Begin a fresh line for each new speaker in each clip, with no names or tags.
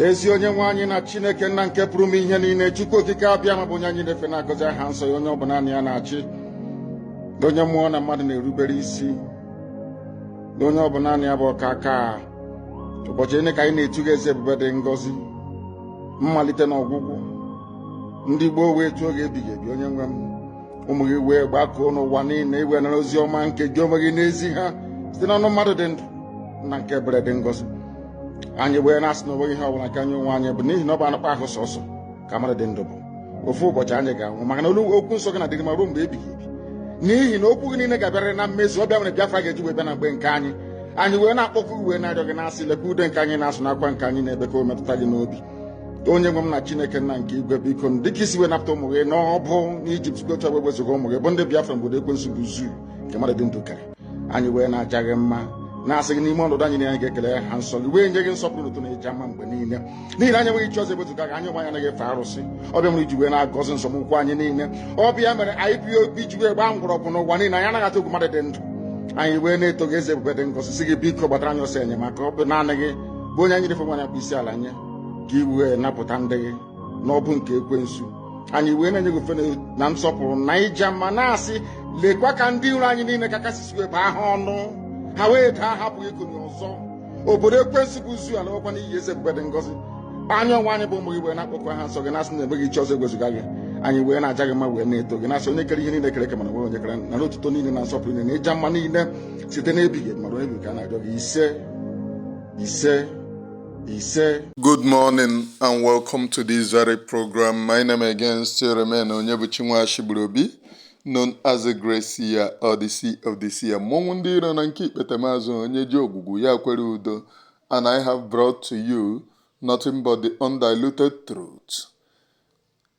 ezi onye nwe anyị na chineke nna nke pụrụ ime ihe niile chukwu okike abịama bụ onye anyị na-efe na-agọzi aha nsọ ya onye ọ bụ naanị ya na-achị onye mmụọ na mmadụ na-erubere isi onye ọ bụ naanị ya bụ ọkaaka ụbọchị niile ka anyị na-etu gị aha eze ebube dị ngọzi mmalite na ọgwụgwụ ndị gboo wee tuo gị aha ebighị ebi onye nwe m ụmụ gị wee gbakọọ n'ụwa niile i wee nara ozi ọma nke gị onwe gị na-ezi ha site n'ọnụ mmadụ dị ndụ nna nke ebere dị ngọzi anyị wee na-asị na onweghị ihe ọbụla nke anyị onwe anyị bụ n'ihi na ọ bụ anụkpọ ahụ sọsọ ka mmadụ dị ndụ bụ ofu ụbọchị anyị ga-anwụ maka na olu okwu nsọ gị na-adịrị ma ruo mgbe ebighị ebi n'ihi na okwu gị niile ga-abịarịrị na mmezu ọ bụ ya mere Biafra ga-eji wee bịa na mgbe nke anyị anyị wee na-akpọku wee na-arịọ gị na-asị lekwa ude nke anyị na-asụ na akwa nke anyị na-ebe ka o metụta gị n'obi onye nwe m na chineke nna nke igwe biko dịka i si wee napụta ụmụ gị n'ọbụ n'ijipt si otu a wee wezuga ụmụ gị bụ ndị biafra n'obodo ekwensu bụ zoo nke mmadụ dị ndụ kere anyị wee na-aja gị mma na-asị gị n'ime ọnọdụ anyị na anyị ga-ekele aha nsọ gị wee nye gị nsọpụrụ na otuto na ịja mma mgbe niile n'ihi na anyị enweghị chi ọzọ ewezuga gị anyị onwe anyị anaghị efe arụsị ọ bụ ya mere i ji wee na-agọzi nzọm ụkwụ anyị niile ọ bụ ya mere IPOB ji wee gbaa mgbọrọgwụ n'ụwa niile anyị anaghị atụ egwu mmadụ dị ndụ anyị wee na-eto gị eze ebube dị ngọzi sị gị biko gbatara anyị ọsọ enyemaka ọ bụ naanị gị bụ onye anyị na-efe ma na-akpọ isi ala nye ka i wee napụta ndị gị n'ọbụ nke ekwensu anyị wee na-enye gị ofe na nsọpụrụ na ịja mma na-asị lekwa ka ndị iro anyị niile ka kasị si wee baa ha ọnụ ha wee daa hapụ ikunie ọzọ obodo ekwensu bụ zoo alakwa n'iyi eze ebube dị ngọzi anyị onwe anyị bụ ụmụ gị wee na-akpọku aha nsọ gị na-asị na enweghị chi ọzọ ewezuga gị anyị wee na-aja gị mma wee na-eto gị na-asị onye kere ihe niile e kere eke mana enweghị onye kere ya nara otuto niile na nsọpụrụ niile na ịja mma niile site n'ebighị ebi ma ruo ebi ka a na-arịọ gị ise ise ise Good morning
and welcome to this very program. My name again still remain Onyebuchi Nwashigburuobi, known as the Great Seer or the Seer of the Seer. Mmọnwụ ndị iro na nke ikpetemazụ onye ji ogwugwu ya kwere udo and I have brought to you nothing but the undiluted truth.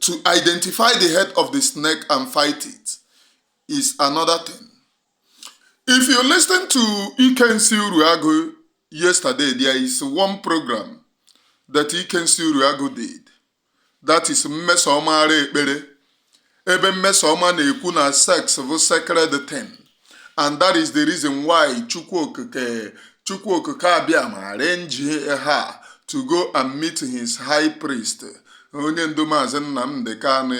to identify the head of the snake and fight it is another thing. If you listen to Ikensi Uruagu yesterday, there is one program that Ikensi Uruagu did. That is Mmesoma Ekpere. Ebe Mmesoma na-ekwu na sex bụ sacred thing. and that is the reason why chukwu okike chukwu okike abịama arrange her to go and meet his high priest onye ndu maazị nnamdị kanụ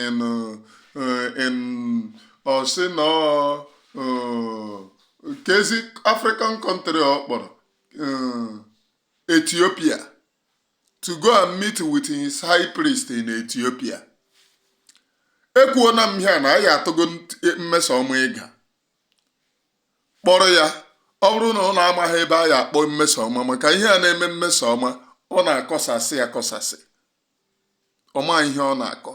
in ọ sị na ọ, eh, kezi african country ọ kpọrọ eh, ethiopia to go and meet with his high priest in Ethiopia ekwuona m ihe na ya atụgo mmesoma ịga kpọrọ ya ọ bụrụ na ụnụ amaghị ebe a ya-akpọ mmesoma maka ihe a na-eme mmesoma ọ na-akọsasị akọsasị ọ ma ihe ọ na-akọ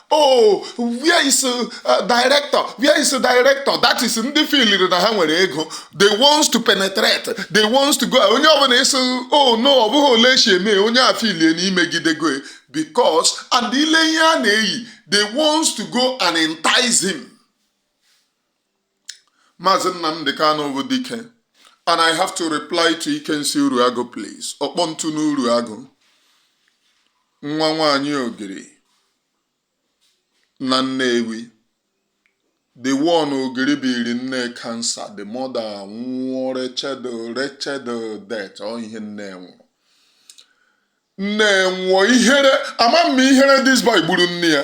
oh where is uh, uh, director where is director that is ndị filiri na ha nwere ego they wants to penetrate they wants to go onye ọbụla ị sị oh no ọ bụghị ole esi eme onye a filie na i megidego because and ile ihe a na-eyi they wants to go and entice him Maazị Nnamdi Kanu bụ dike and I have to reply to Ikensi Uruagu please ọkpọ ntu n'Uruagu nwa nwanyị ogiri na Nnewi the one ogiri biri nne cancer the mother nwụọ wretched death ọ ihe nne nwụrụ nne nwụọ ihere ama m ihere this boy gburu nne ya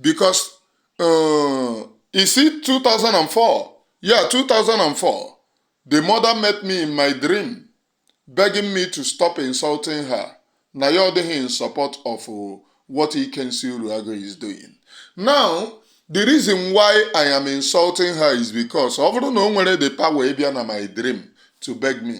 because uh, you see 2004 yeah 2004 the mother met me in my dream begging me to stop insulting her na ya ọ in support of uh, what Ikensi Uruago is doing now the reason why I am insulting her is because ọ bụrụ na o nwere the power ịbịa na my dream to beg me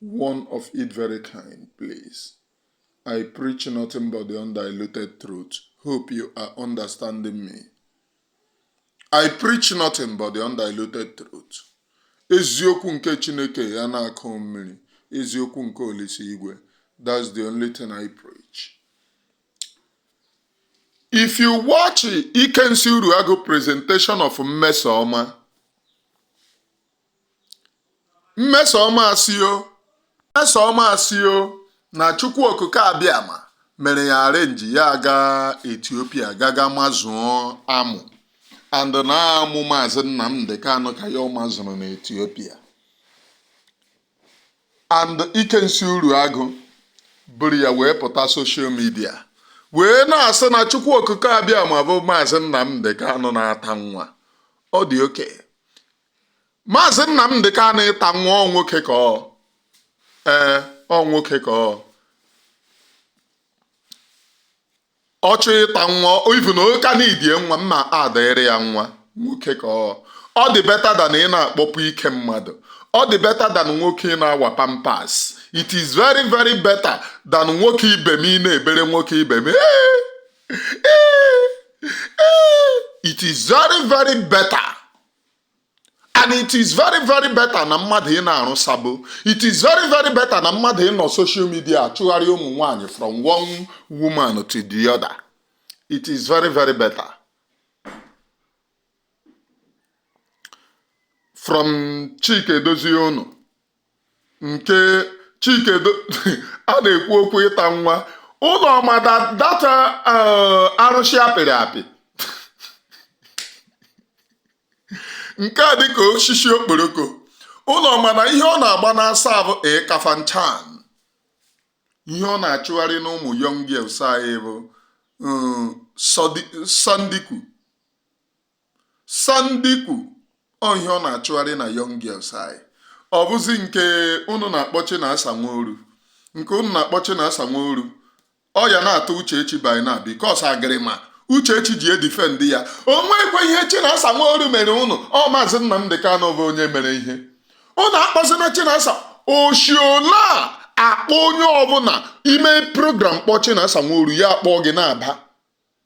One of it very kind, please. I preach nothing but the undiluted truth. Hope you are understanding me. I preach nothing but the undiluted truth. Eziokwu nke Chineke ya na-akụ mmiri, eziokwu nke Olise Igwe. That's the only thing I preach. If you watch Ikensi Uruagu presentation of Mmesoma, Mmesoma asịọ Mmesoma asịọ na Chukwu Okike Abịama mere ya arrange ya aga Ethiopia gaga mazụọ amụ and na amụ Maazị Nnamdi Kanu ka ya mazụrụ na Ethiopia and Ikensi Uruagu buru ya wee pụta social media wee na-asị na Chukwu Okike Abịama bụ Maazị Nnamdi Kanu na-ata nwa ọ dị okay maazị Nnamdi Kanu ịta nwa ọ nwoke ka ọ ee ọ nwoke ka ọ ọ chọọ ịta nwa even oka na idie nwa mma adịrị ya nwa nwoke ka ọ ọ dị better than ị na-akpọpụ ike mmadụ ọ dị better than nwoke ị na-awa pampers it is very very better than nwoke ibe m ị na-ebere nwoke ibe m "Ee, ee, ee." it is very very better and it is very very better na mmadụ ị na-arụ sabo it is very very better na mmadụ ịnọ social media achụgharị ụmụ nwanyị from one woman to the other it is very very better from Chike Edozie unu nke Chike a na-ekwu okwu ịta nwa Ụlọma data eh, arụsị apịrị apị nke a dịka osisi okporoko Ụlọma na ihe ọ na-agba n'asa bụ Kafanchan ihe ọ na-achụgharị n'ụmụ young girls anyị bụ eh, sandiku Sandiku ọ ihe ọ na-achụgharị na young girls anyị ọ bụzi nke unu na-akpọ Chinasa Nworu nke unu na-akpọ Chinasa Nworu ọ ya na-atọ Uchechi by now because agịrịma Uchechi ji edifend ya o nwekwa ihe Chinasa Nworu mere unu ọ maazị Nnamdi Kanu bụ onye mere ihe unu akpọzina Chinasa oshiola akpọ onye ọbụla ime program kpọ Chinasa Nworu ya akpọ gị na-aba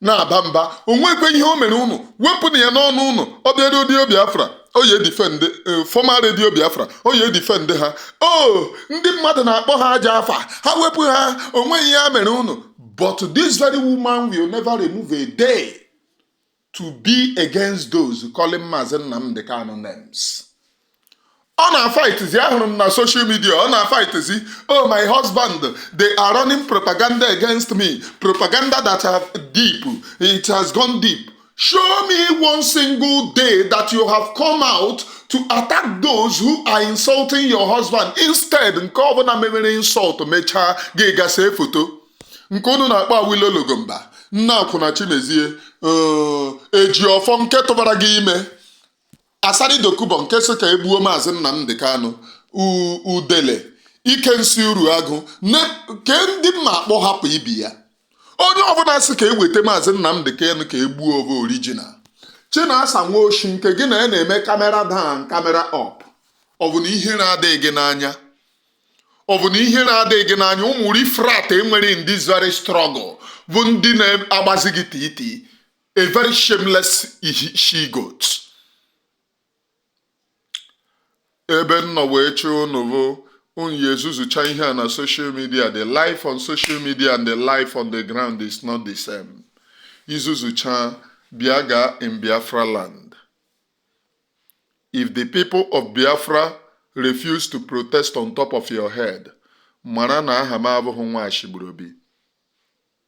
na-aba mba o nwekwa ihe o mere unu wepụnụ ya n'ọnụ unu ọ bịa Radio Biafra o ye defend former Radio Biafra o ye defend ha o ndị mmadụ na-akpọ ha ajọ afa ha wepụ ha o nweghị ihe ha mere unu but this very woman will never remove a day to be against those calling Mazi Nnamdi Kanu names. ọ na-afaitizi ahụrụ m na social media ọ na-afaitizi oh my husband they are running propaganda against me propaganda that have deep it has gone deep show me one single day that you have come out to attack those who are insulting your husband instead nke ọbụla memere insult mechaa gị ga see foto nke unu na-akpọ Awilo Logomba nna akwụna Chimezie Ejiofor nke tụbara gị ime Asari Dokubo nke sị ka egbuo Maazị Nnamdi Kanu, Udele, Ikensi Uruagụ ke ndị mma akpọ hapụ ibi ya onye ọbụla sị ka e weta Maazị Nnamdi Kanu ka egbuo ọ bụ original Chinasa Nwoshi nke gị na ya na-eme camera down camera up ọ bụ na ihere adịghị gị n'anya ọ bụ na ihere adịghị gị n'anya ụmụ rifrat e nwere in this very struggle bụ ndị na-agbazi gị titi a very shameless she goat ebe nọ wee chee unu bụ unu ya ezuzucha ihe a na social media the life on social media and the life on the ground is not the same i zuzucha bịa gaa in Biafra land if the people of Biafra refuse to protest on top of your head mara na aha m abụghị Nwashigburuobi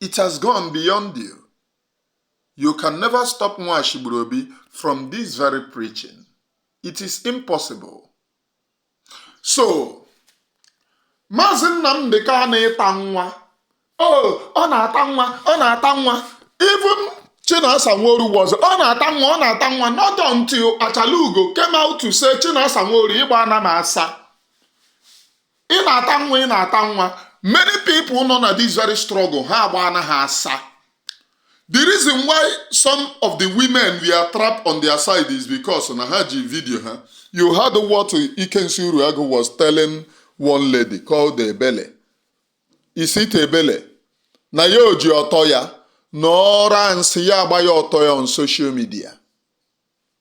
It has gone beyond you. You can never stop Nwashigburuobi from this very preaching. It is impossible. So, Maazị Nnamdi Kanu ịta nwa. Oh, ọ na-ata nwa, ọ na-ata nwa. Even Chinasa Nworu was, ọ na-ata nwa, ọ na-ata nwa. Not until Achalugo came out to say Chinasa Nworu ịgba ana m asa. ị na-ata nwa ị na-ata nwa many people nọ na this very struggle ha agba na ha asa the reason why some of the women were trapped on their side is because na ha ji video ha you heard what Ikensi Uruagu was telling one lady called Ebele is it Ebele na ya o ji ọtọ ya na ọ ra nsị ya agbanye ọtọ ya on social media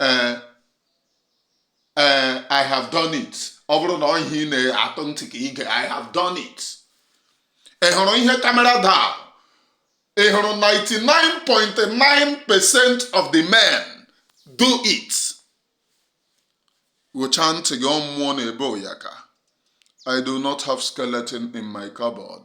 ee eh, ee eh, I have done it ọ bụrụ na ọ ihe ị na-atụ ntị ka i gee I have done it ị hụrụ ihe kamera daa ị hụrụ 99.9 percent of the men do it wụchaa ntị gị ọ mmụọ na-ebe ụyaka I do not have skeleton in my cupboard.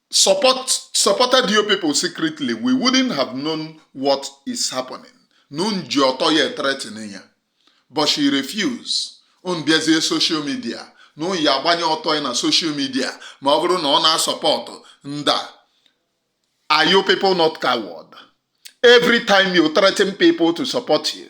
support supported you people secretly we wouldn't have known what is happening na unu ji ọtọ ya ethreaten ya but she refuse unu bịazie social media na unu ya-agbanye ọtọ ya na social media ma ọ bụrụ na ọ na-asupport nda are you people not coward every time you threaten people to support you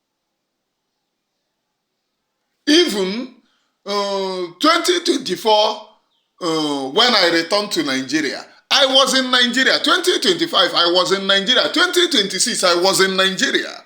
Even uh, 2024, uh, when I returned to Nigeria, I was in Nigeria. 2025, I was in Nigeria. 2026, I was in Nigeria.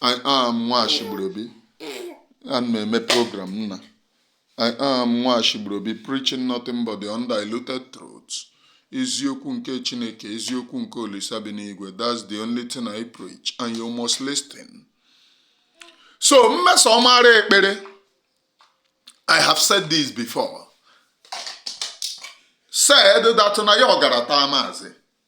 I am Nwashigburobi ana m eme program nna I am Nwashigburobi preaching nothing but the undiluted truth eziokwu nke Chineke eziokwu nke Olisa bi n'igwe that's the only thing I preach and you must listen so Mmesomara Ekpere I have said this before said that na ya ọ gara taa maazị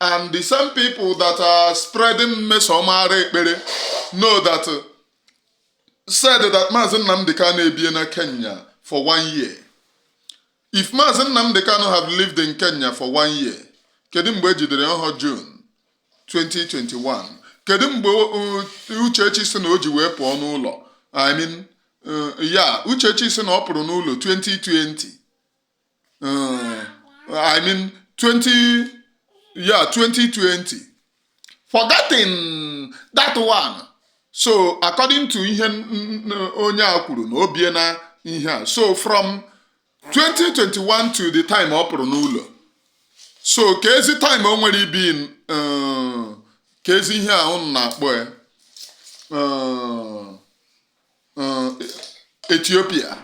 and the same people that are spreading Mmesomara Ekpere know that uh, said that Mazi Nnamdi Kanu ebie na Kenya for one year. If Mazi Nnamdi Kanu have lived in Kenya for one year, kedu mgbe e jidere ọ bụrọ June 2021? Kedu mgbe uh, Uchechi si na o ji wee pụọ n'ụlọ? I mean, uh, ya Uchechi si na ọ pụrụ n'ụlọ 2020. uh, I mean, 20, yeah, 2020. Forgetting that one. So, according to ihe onye a kwuru na o bie na ihe a. So, from 2021 to the time ọ pụrụ n'ụlọ. So, keezi time o nwere ibi uh, keezi ihe a na-akpọ ya. Uh, mm, Ethiopia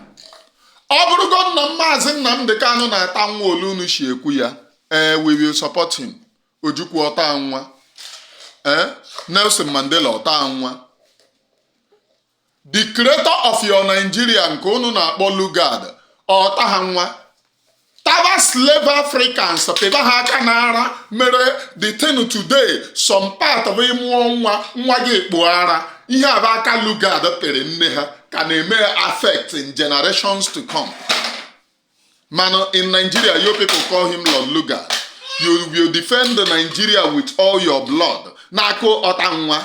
ọ bụrụgo na maazị nnamdị kanụ na-ata nwa otu unu si ekwu ya ee we will support him ojukwu ọ taha nwa ee nelson mandela ọ taha nwa the creator of your nigeria nke unu na-akpọ lugard ọ taha nwa taba slave africans pịba ha aka n'ara mere the thing today some part of ị mụọ nwa nwa gị ekpo ara ihe a bụ aka lugard pịrị nne ha ka na-eme affect in generations to come mana in nigeria you people call him lord lugard you will defend nigeria with all your blood n'aka ọta nwa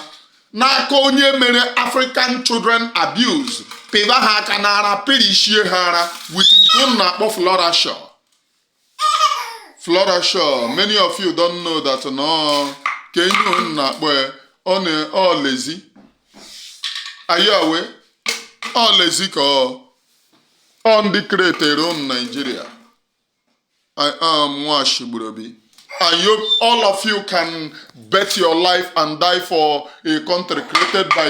n'aka onye mere African Children Abuse pịba ha aka n'ara pịrịchie ha ara with nke unu na-akpọ Flora Shaw Flora Shaw many of you don't know that no ka ihe unu na-akpọ ya ọ na ọ lezi are you aware ọ lezi ka ọ ọ ndị kretere unu Naijiria I am Nwashigburobi. And you, all of you can bet your life and die for a country created by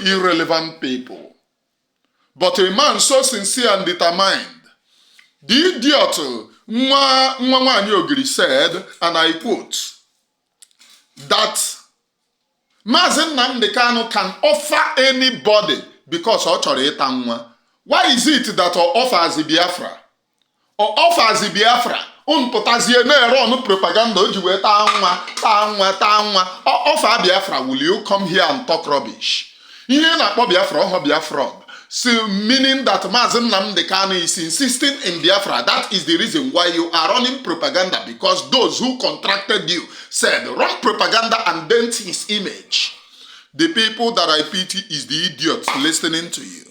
irrelevant people. But a man so sincere and determined, the idiot Nwa Nwanyi Ogiri said, and I quote, that Mazi Nnamdi Kanu can offer anybody because ọ chọrọ ịta nwa. Why is it that ọ offers Biafra? ọ fazi biafra unu pụtazie na-ere ọnụ propaganda o ji wee taa nwa taa nwa taa nwa ọ fa biafra will you come here and talk rubbish ihe na-akpọ biafra ọ ha biafra so meaning that Maazị Nnamdi Kanu is insisting in Biafra. That is the reason why you are running propaganda because those who contracted you said run propaganda and dent his image. The people that I pity is the idiots listening to you.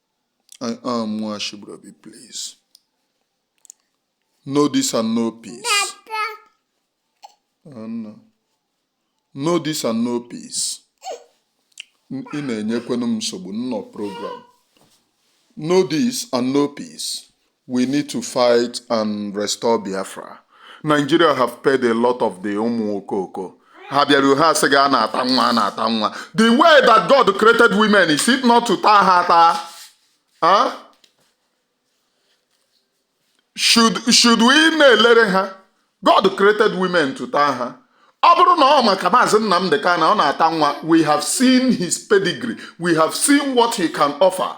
I am Nwashibrabi, please. Know this and know peace. Anna. Know this and know peace. N- Ị na-enyekwenu m nsogbu nnọ program. Know this and know peace. We need to fight and restore Biafra. Nigeria have paid a lot of the ụmụ okoko. Ha bịaruo ha sị gị a na-ata nwa a na-ata nwa. The way that God created women is it not to taa ha taa? Huh? Should, should we na-elere ha? God created women to taa ha. Ọ bụrụ na ọ maka maazị Nnamdị Kanu ọ na-ata nwa, we have seen his pedigree, we have seen what he can offer.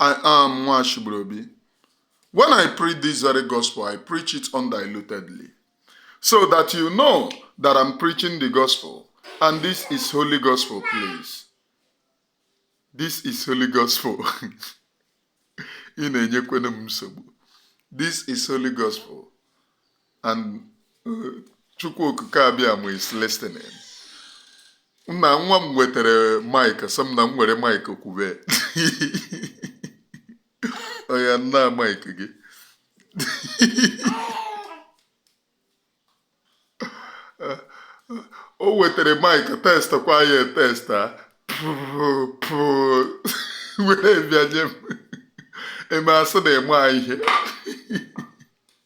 I am Nwashibrobi. When I preach this very gospel, I preach it undilutedly. So that you know that I'm preaching the gospel. And this is holy gospel, please. This is holy gospel. Ị na-enyekwenu m nsogbu. This is holy gospel. and uh, chukwu okike abịama is listening nna nwa m wetere mike sị m na m were mike kwube oya nna mike gị o wetere mike test kwa ya test a were bịa nye m eme asị na-eme ihe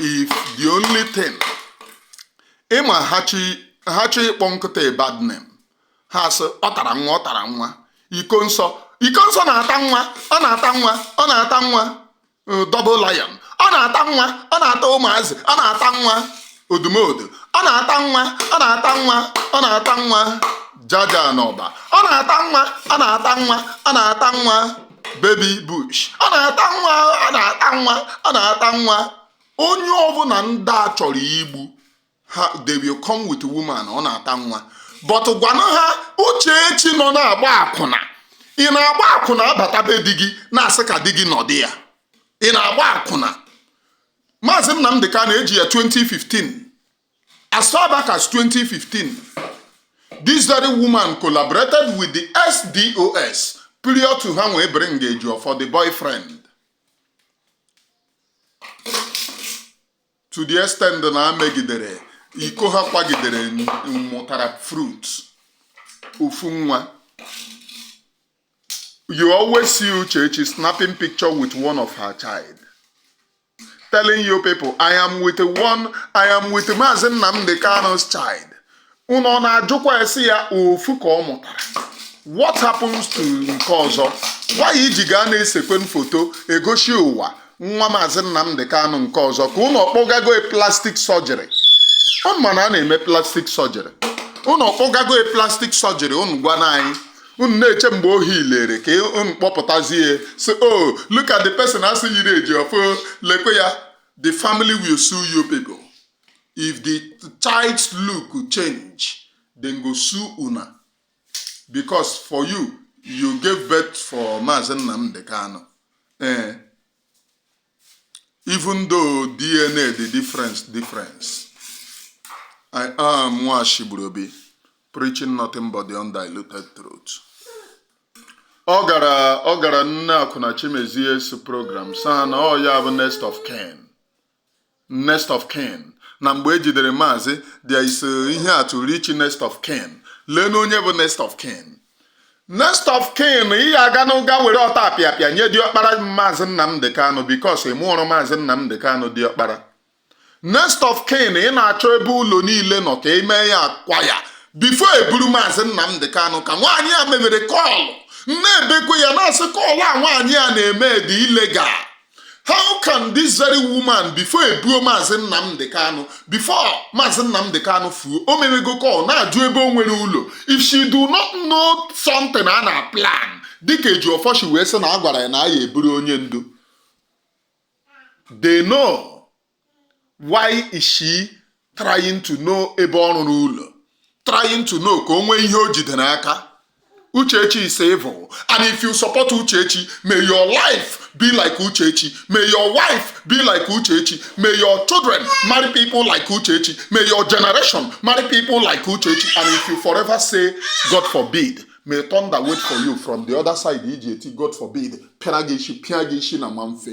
if the only thing ị ma ha chọọ ịkpọ nkịta a bad name ha sị ọ tara nwa ọ tara nwa ikonso ikonso na-ata nwa ọ na-ata nwa ọ na-ata nwa uh, double lion ọ na-ata nwa ọ na-ata ụmụazị ọ na-ata nwa odumodu ọ na-ata nwa ọ na-ata nwa ọ na-ata nwa jaja n'ọba ọ na-ata nwa ọ na-ata nwa ọ na-ata nwa baby bush ọ na-ata nwa ọ na-ata nwa ọ na-ata nwa onye ọbụla ndị a chọrọ igbu ha they will come with woman ọ na-ata nwa but gwanụ ha uchechi nọ na-agba akwụna ị na-agba akwụna abata be di gị na-asị ka di gị nọdị ya ị na-agba akwụna maazị nnamdị kanu eji ya 2015 As far back as 2015, this very woman collaborated with the SDOS prior to ha wee bring Ejiofor the boyfriend. To the extent na ha megidere iko ha kwagidere n- mụtara fruit ofu nwa. You always see Uchechi snapping picture with one of her child. telling you people I am with one I am with Maazị Nnamdi Kanu's child unu ọ na-ajụkwa esi ya ofu ka ọ mụtara what happens to nke ọzọ why iji gaa na-esekwe foto egosi ụwa nwa Maazị Nnamdi Kanu nke ọzọ ka unu ọkpọgago e plastic surgery unu ma na a na-eme plastic surgery unu ọkpọgago e plastic surgery unu gwana anyị unu na-eche mgbe o healere ka unu kpọpụtazie so o oh, look at the person a sị yiri Ejiofor lekwe ya the family will sue you people if the child's look change dem go sue una because for you you gave birth for Maazị Nnamdi Kanu ee eh. even though DNA the difference difference I am Nwashigburobi preaching nothing but the undiluted truth ọ gara ọ gara nne akwụna Chimezie's program saa na ọ ya bụ next of kin Next of Kin na mgbe e jidere maazị there is uh, ihe a to reach next of kin lee na onye bụ next of kin next of kin ị ya aga n'ụga were ọtapịapịa nye diọkpara maazị Nnamdị Kanụ because ị mụọrọ maazị Nnamdị Kanụ diọkpara next of kin ị na-achọ ebe ụlọ niile nọ ka ị mee ya akwa ya before e buru maazị Nnamdị Kanụ ka nwaanyị a mebere call na-ebekwe ya na-asị call a nwaanyị a na-eme dị illegal how can this very woman before ebuo maazị nnamdị kanụ before maazị nnamdị kanụ fuo o merego call na-ajụ ebe o nwere ụlọ if she do not know something a na plan dịka Ejiofor shi wee sị na a gwara ya na a ya-eburu onye ndu they know why is she trying to know ebe ọ rụrụ ụlọ trying to know ka o nwee ihe o jide n'aka uchechi is evil and if you support uchechi may your life be like uchechi may your wife be like uchechi may your children marry people like uchechi may your generation marry people like uchechi and if you forever say god forbid may thunder wait for you from the other side iji eti god forbid pịara gị isi pịa gị isi na ma mfe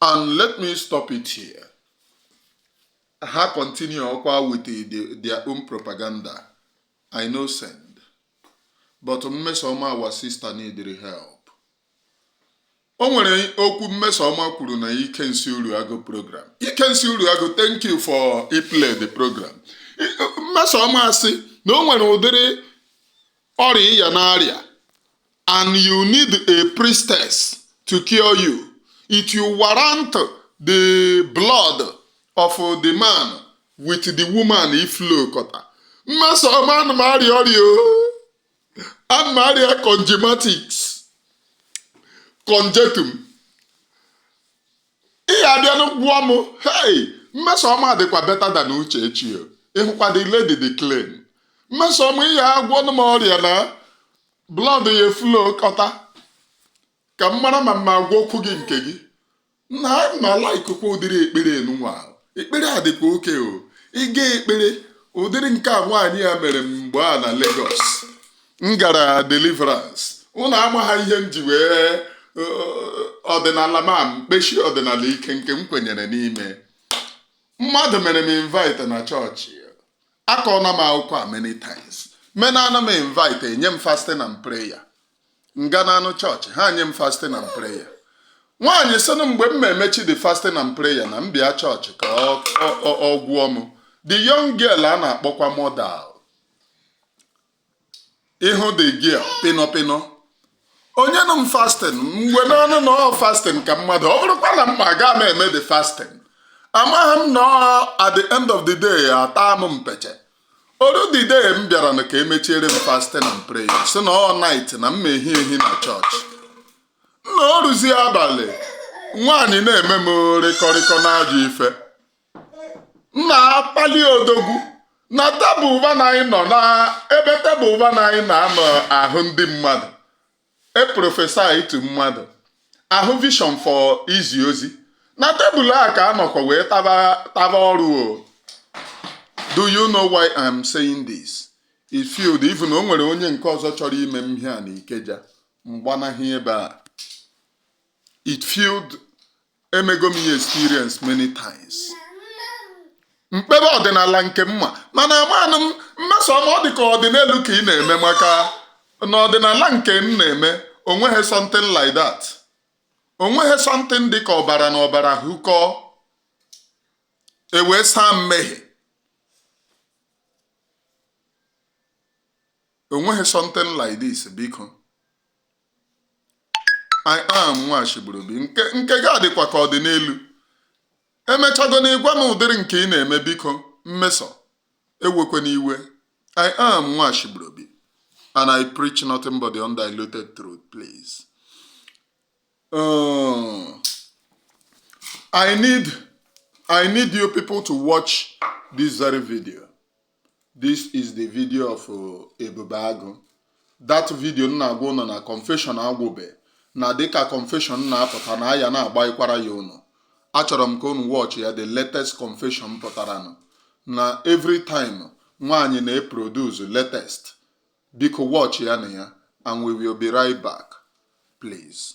and let me stop it here ha continue ọkwa with the, their own propaganda i no send but mmesoma our sister needed help o nwere okwu mmesoma kwuru na ikensi Uruagu program ikensi Uruagu thank you for iplay the program Mmesoma sị na o nwere ụdịrị ọrịa ịya na-arịa and you need a priestess to cure you, it will warrant the blood of the man with the woman iflowkọta Mmesọma ana m arịa ọrịa ana m arịa congematics congetum ị ya-abịanụ gwụọ m hey Mmesọma dịkwa better than Uchechi ịhụkwa the lady the claim Mmesọma ị ya-agwọnụ m ọrịa na blood ya eflowkọta ka m mara ma m ma agwọ okwu gị nke gị na ma likekwa ụdịrị ekpere nụnwa ekpere a dịkwa oke o ị ga ekpere ụdịrị nke a nwaanyị ya mere m mgbe a na Lagos m gara deliverance ụnụ amaha ihe m ji wee ọdịnala ma m kpechie ọdịnala ike nke m kwenyere n'ime mmadụ mere m invite na chọọchị akọọna m akụkọ a many times menaanụ m invite enye m fasting and prayer m ganaanụ chọọchị ha nye m fasting and prayer nwaanyị sịnụ mgbe m ma emechi the fasting and prayer na m bịa chọọchị ka ọ gwụọ m the young girl a na-akpọkwa model ị hụ the girl pịnọ pịnọ o nyenụ m fasting m kwenaanụ na ọ fasting ka mmadụ ọ bụrụkwa na m ma aga m eme the fasting amaha m na at the end of the day ata m mpeche o ruo the day m bịaranụ ka emechiere m fasting and prayer sị na all night na m ma ehi ehi na chọọchị na o ruzie abalị nwaanyị na-eme m rịkọrịkọ n'ajọ ife na-akpali odogwu na tebụl ụba na anyị nọ na ebe tebụl ụba na anyị na-anọ ahụ ndị mmadụ eprophesytụ mmadụ ahụ vision for izi ozi na tebụl a ka a nọkwa wee taba ọrụ o do you know why I'm saying this it field even o nwere onye nke ọzọ chọrọ ime m ihe a na Ikeja m gbanahụ ebe a it field emego m ya experience many times m kpebe ọdịnala nke m ma mana amanụ m Mmesọma ọ dị ka ọdịnelu ka ị na-eme maka na ọdịnala nke m na-eme o nweghị something like that o nweghị something dị ka ọbara na ọbara hụkọ e wee saa mmehie o nweghị something like this biko I am nwa Ashigburubi. Nke, nke gị adịkwa ka ọdịnelu. E mechagonụ ị gwa m ụdịrị nke ị na-eme biko Mmesọ ewekwene iwe. I am nwa Ashigburubi and I preach nothing but the undiluted truth, please. Uh, I need I need you people to watch this very video. This is the video of uh, Ebube Agụ. That video m na-agwa ụnụ na confession agwụbe na dịka confession na-apụta na aya na-agbaikwara ya ụnụ. Achọrọ m ka ụnụ watch ya the latest confession pụtaranụ na every time nwa anyị na-eproduce latest. Biko watch ya na ya and we will be right back please.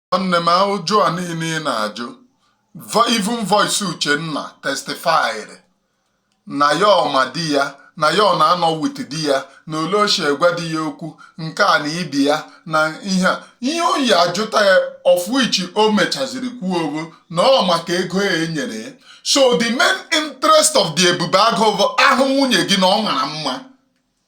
Nwanne m ụjụ a niile ị na-ajụ even voice Uchenna testified na ya ọma di ya na ya ọ na-anọ with di ya na ole ochie gwa di ya okwu nke a na ibi ya na ihe a ihe oyi ajụta ya of which o mechaziri kwuo ogo na ọ maka ego a e nyere ya so the main interest of the ebube agụ a hụ nwunye gị na ọ mara mma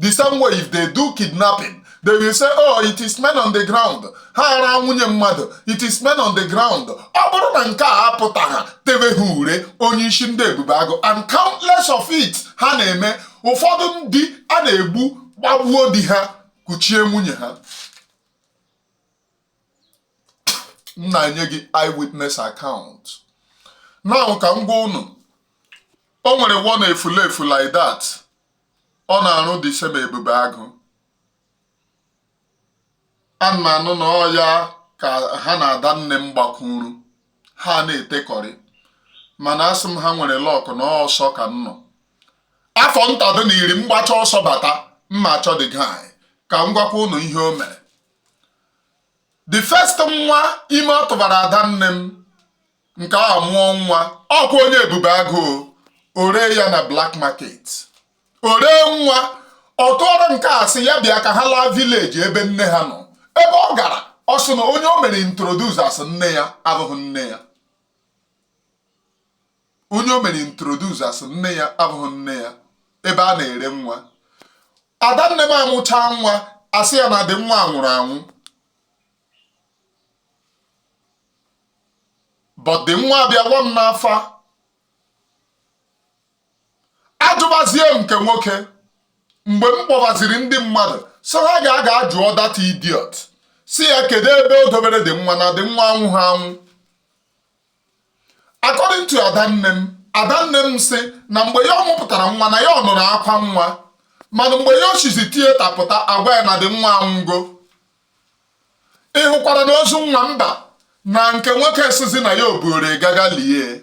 the same way if they do kidnapping they will say oh it is men on the ground ha araa nwunye mmadụ it is men on the ground ọ bụrụ na nke a apụta ha tebe ha ure onye isi ndị ebube agụ and countless of it ha na-eme ụfọdụ ndị a na-egbu gbagbuo di ha kuchie nwunye ha m na-enye gị eyewitness account now ka m gwa unu o nwere one efulefu like that ọ na-arụ the same ebube agụ ana m anụ na ọ ya ka ha na ada nne m gbakwuru ha na-etekọrị mana asị m ha nwere luck na ọsọ ka m nọ afọ ntadụ na iri m gbacha ọsọ bata m ma achọ the guy ka m gwakwa ụnụ ihe o mere the first nwa ime ọ tụbara ada nne m nke a mụọ nwa ọkwa onye ebube agụ o ree ya na black market o ree nwa ọ tụọrọ nke a sị ya bịa ka ha laa village ebe nne ha nọ ebe ọ gara ọ sị na onye o mere introduce as nne ya abụghị nne ya onye o mere introduce as nne ya abụghị nne ya ebe a na-ere nwa ada nne m amụchaa nwa a sị ya na the nwa nwụrụ anwụ but the nwa abịawa m n'afa ajụbazie m nke nwoke mgbe m kpọbaziri ndị mmadụ sị ha gaa ga jụọ that idiot sị ya kedu ebe o dobere the nwa na the nwa anwụha anwụ according to adanne m adanne m sị na mgbe ya ọ mụpụtara nwa na ya ọ nụrụ akwa nwa mana mgbe ya ochizi tieta pụta a gwa ya na the nwa anwụgo ị hụkwara na ozu nwa mba na nke nwoke esizi na ya oburu gaga lie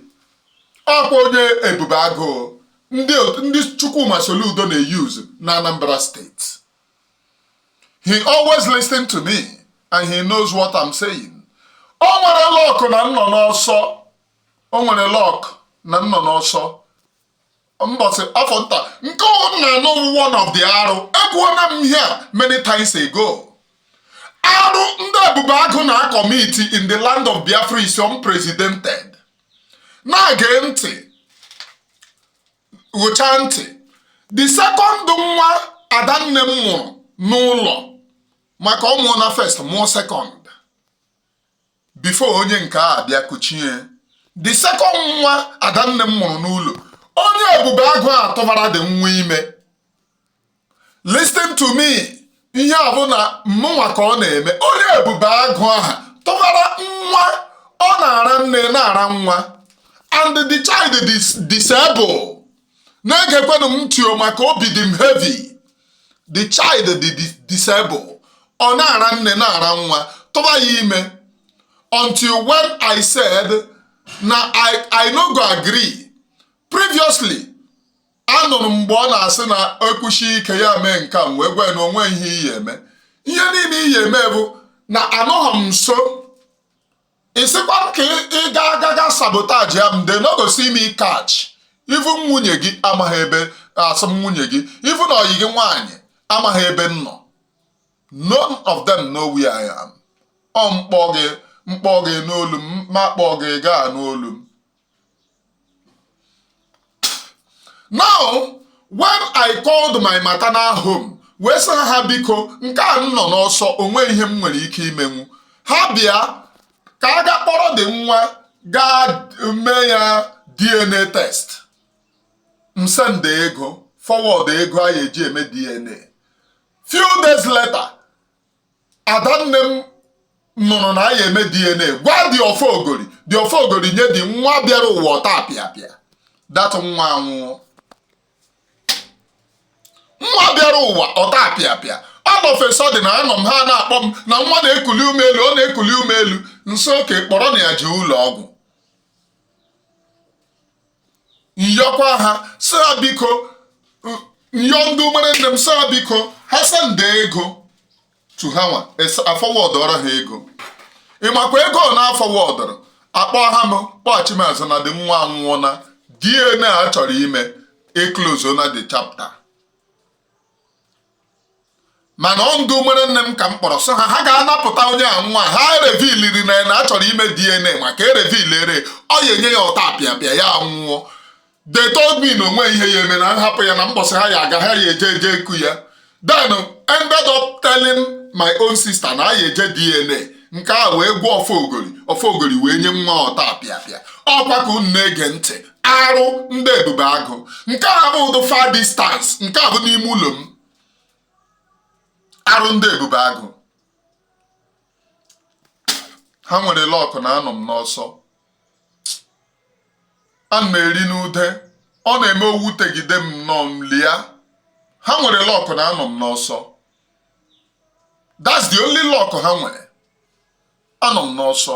ọkwa onye ebube agụ ndị Chukwuma Soludo na-euse na Anambra State he always listen to me and he knows what I'm saying o nwere luck na m nọ n'ọsọ o nwere luck na m nọ n'ọsọ mbọsị afọ nta nke ọwụ m na-anụ one of the arụ ekwuona m ihe a many times ago arụ ndị ebube agụ na-acommit in the land of biafra is unprecedented na-ege ntị ghụcha ntị the second nwa adanne m mụrụ n'ụlọ maka ọ mụọ na first mụọ second before onye nke a bịa kuchie the second nwa adanne m mụrụ n'ụlọ onye ebube agụ a tụbara the nwa ime listen to me ihe a bụ na mụnwa ka ọ na-eme onye ebube agụ aha tụbara nwa ọ na-ara nne na-ara nwa and the child is disabled na-egekwenụ m ntị o maka obi dị m heavy the child dị disable ọ na-ara nne na-ara nwa tụba ya ime until when I said na I no go agree previously anụrụ m mgbe ọ na-asị na ekwuchi ike ya mee nke m wee gwa na onwe ihe i ji eme ihe niile i ji eme bụ na anọghị m nso ịsịkwa m ka ị ga agaga sabotage ya m they no go see me catch even nwunye gị amaghị ebe asị m nwunye gị even ọyị gị nwaanyị amaghị ebe m nọ none of them know where I am ọ m kpọ gị m kpọ gị n'olu m ma kpọ gị gaa n'olu m now when i called my maternal home wee sị ha biko nke a m nọ n'ọsọ onweghị ihe m nwere ike imenwu ha bịa ka a ga kpọrọ the nwa gaa mee ya dna test m send ego forward ego a ya-eji eme dna few days later adanne m nụrụ na anyị eme dna gwa the ofogori the ofogori nye the nwa bịara ụwa ọtapịapịa that nwa anwụọ nwa bịara ụwa ọtapịapịa all of a sudden anọ m ha na-akpọ m na nwa na-ekuli ume elu ọ na-ekuli ume elu m sị okay kpọrọnụ ya jee ụlọ ọgwụ m yọkwa ha sị ha biko m yọ ndị umere nne m sị ha biko ha sende ego to ha nwa afọwọdụọrọ ha ego ịmakwa ego ọ na-afọwọdụrụ akpọ ha m kpọghachi m azụ na the nwa anwụọ na DNA a chọrọ ime eklozona the chapter mana ọ ndụ nwere nne m ka m kpọrọ sị ha ha ga-anapụta onye a nwa ha ereviliri na ya na a chọrọ ime DNA maka erevilere ọ ya enye ya otapịapịa ya nwụọ they told me na o nwe ihe ya eme na m hapụ ya na mbọsị ha ya aga ha ya eje eje ku ya then ended up telling my own sister na ya eje DNA nke a wee gwa ọfọ ogori ọfọ ogori wee nye nwa otapịapịa ọ kwa ka unu na-ege ntị arụ ndị ebube agụ nke a bụ ụdụ far distance nke a bụ n'ime ụlọ m arụ ndị ebube agụ ha nwere luck na anọ m n'ọsọ ana m eri n'ude ọ na-eme o wutegide m normally ha nwere luck na anọ m n'ọsọ that's the only luck ha nwere anọ m n'ọsọ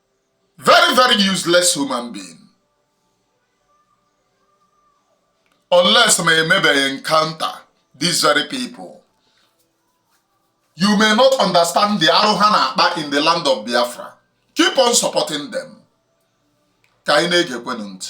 very very useless human being unless ma emebeghị encounter these very people you may not understand the arụ ha na-akpa in the land of Biafra keep on supporting them ka anyị na-egekwenụ ntị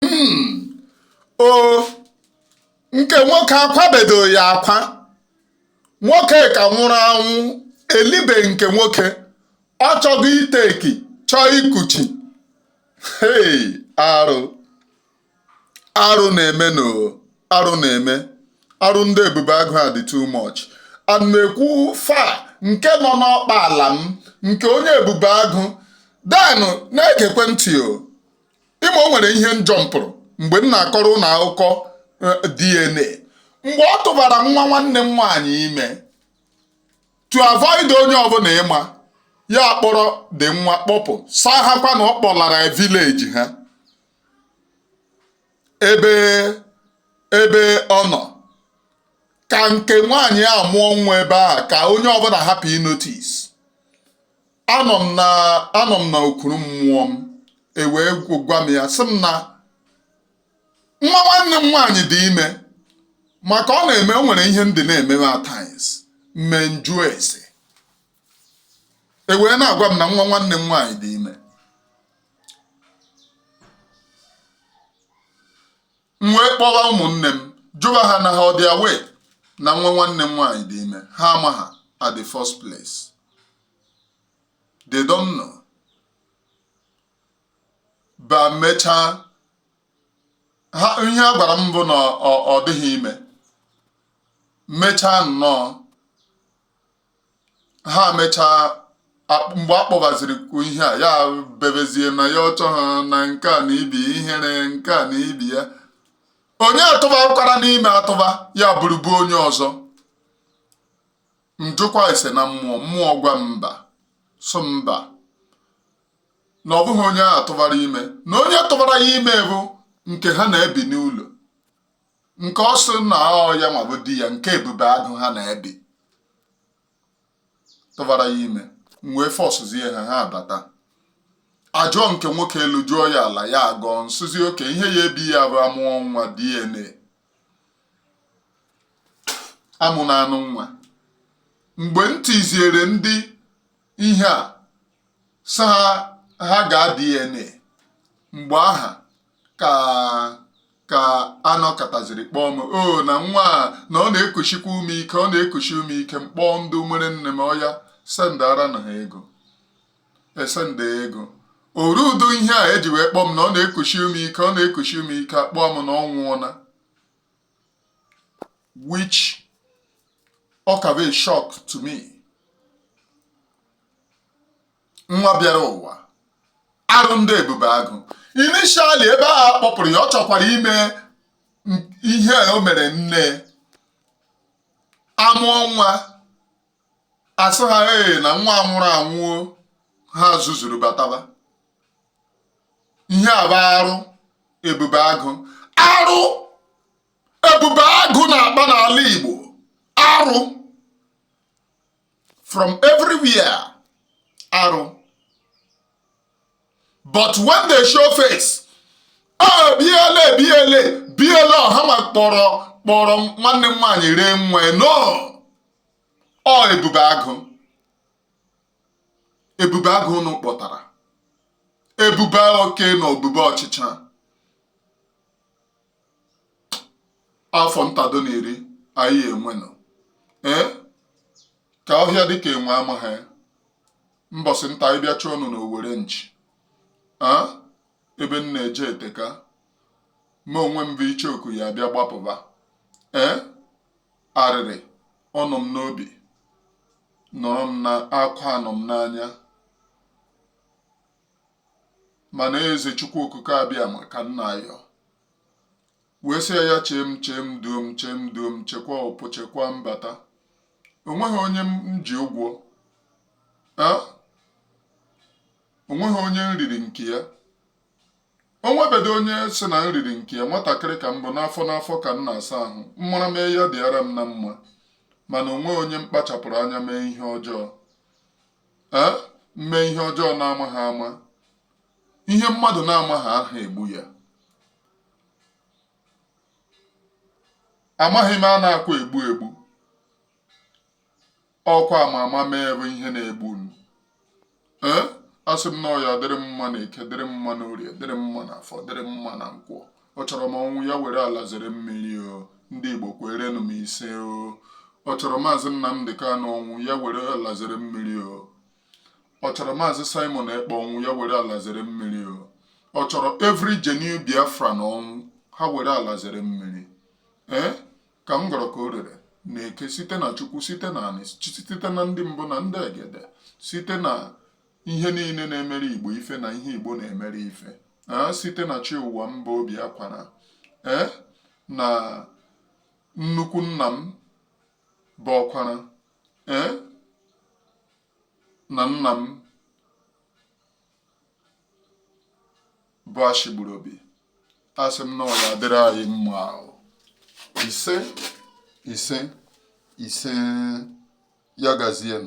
hmm. o nke nwoke akwabedo ya akwa nwoke ka nwụrụ anwụ elibe nke nwoke ọ chọgo ịtake chọọ ikuchi hei arụ arụ na-eme no arụ na-eme arụ ndị ebube agụ adị too much ana m ekwu fa nke nọ n'ọkpa ala m nke onye ebube agụ then na-egekwe ntị o ị ma o nwere ihe m jumpụrụ mgbe m na-akọrọ unu akụkọ eh, DNA mgbe ọ tụbara nwa nwanne m nwaanyị ime to avoid onye ọbụla ịma ya kpọrọ dị nwa kpọpụ saa ha kwa na ọ kpọlara village ha ebe ebe ọ nọ ka nke nwaanyị a mụọ nwa ebe a ka onye ọbụla hapụ ịnotice anọ m na anọ m na okuru mmụọ m ewee gwa m ya sị m na nwa nwanne m nwaanyị dị ime maka ọ na-eme o nwere ihe ndị na-eme m at times m mee m jụọ ese e wee na-agwa m na nwa nwanne m nwaanyị dị ime m wee kpọwa ụmụnne m jụwa ha na ha ọ dị aware na nwa nwanne m nwaanyị dị ime ha amaha at the first place they don't know but mechaa ha ihe a gwara m bụ na ọ dịghị ime mechaa nnọọ ha mechaa mgbe a kpọbaziri kwuo ihe a ya bebezie na ya ọchọ ha na nke a na ibi ihere nke a na ibi ya onye a tụbakwara m ime atụba ya bụrụbu onye ọzọ m jụkwa ase na mmụọ mmụọ gwa mba so mba na ọ bụghị onye a tụbara ime na onye tụbara ya ime bụ nke ha na-ebi n'ụlọ nke ọ sị na ọ ya ma bụ di ya nke ebube agụ ha na-ebi tụbara ya ime m wee forcezie ha ha abata ajụọ nke nwoke elu jụọ ya ala ya agọọ m sịzie okay ihe ya-ebi ya bụ a mụọ nwa DNA a mụọna nụ nwa mgbe m tiziere ndị ihe a sị ha ha gaa DNA mgbe aha ka a nọkataziri kpọọ m o na nwa a na ọ na-ekusikwa ume ike ọ na-ekusi ume ike m kpọọ ndị nwere nne m oya sendara nụ ha ego e senda ego oru udo ihe a eji wee kpọọ m na ọ na-ekusi ume ike ọ na-ekusi ume ike a kpọọ m na ọ nwụọna which ọ ka bụ a shock to me nwa bịara ụwa arụ ndị ebube agụ initially ebe a kpọpụrụ ya ọ chọkwara ime ihe o mere nne a mụọ nwa a sị ha ee na nwa nwụrụ anwụ o ha zuzuru bataba ihe a bụ arụ ebube agụ arụ ebube agụ na-akpa n'ala Igbo arụ from everywhere arụ but when they show face bịa lee ah, bịa lee bịa lee ọha ma kpọrọ nwanne m nwaanyị ree nwa no ọ ebube agụ ebube agụ unu kpọtara ebube oke na ebube ọchịcha afọ ntado na iri anyị enwenụ ee ka ọhịa dịka enwe amaghị mbọsị nta anyị bịa chụọ ọnụ n'owere nchi ebe m na-eje eteka ma onwe m bụ icheoku ya bịa gbapụba ee arịrị ọnọ m n'obi nọrọ m na akwa anọ m n'anya mana Eze Chukwu Okike Abịama ka m na-ayọ wee sị ya chee m chee m duo m chee m duo m chekwa ọpụ chekwa mbata onweghị onye m ji ụgwọ onweghị onye m riri nke ya onwebedo onye sị na m riri nke ya nwatakịrị ka m bụ n'afọ n'afọ ka m na-asa ahụ m mara mee ya dịara m na mma mana onweghị onye m kpachapụrụ anya mee ihe ọjọọ ee mee ihe ọjọọ na-amaghị ama ihe mmadụ na-amaghị aha egbu ya amaghị m a na-akwa egbu egbu ọkwa ama ama mee bụ ihe na-egbu unu ee asị m na ọ ya-adịrị m mma na eke dịrị m mma na orie dịrị m mma na afọ dịrị m mma na nkwọ ọ chọrọ m ọnwụ ya were ala zere mmiri o ndị Igbo kwerenụ m ise o ọ chọrọ maazị Nnamdị Kanụ ọnwụ ya were ala zere mmiri o ọ chọrọ maazị Simon Ekpa ọnwụ ya were ala zere mmiri o ọ chọrọ every genuine Biafran ọnwụ ha were ala zere mmiri ee ka m gọrọ ka o rere na eke site na Chukwu site na anị site na ndị mbụ na ndị egede site na ihe niile na-emere Igbo ife na ihe Igbo na-emere ife ee site na chi ụwa mba obi akwara ee na nnukwu nna m bụ ọkwara ee na nna m bụ ashigburu obi asị m na ọ ya-adịrị anyị mma o ise ise ise ya gazie m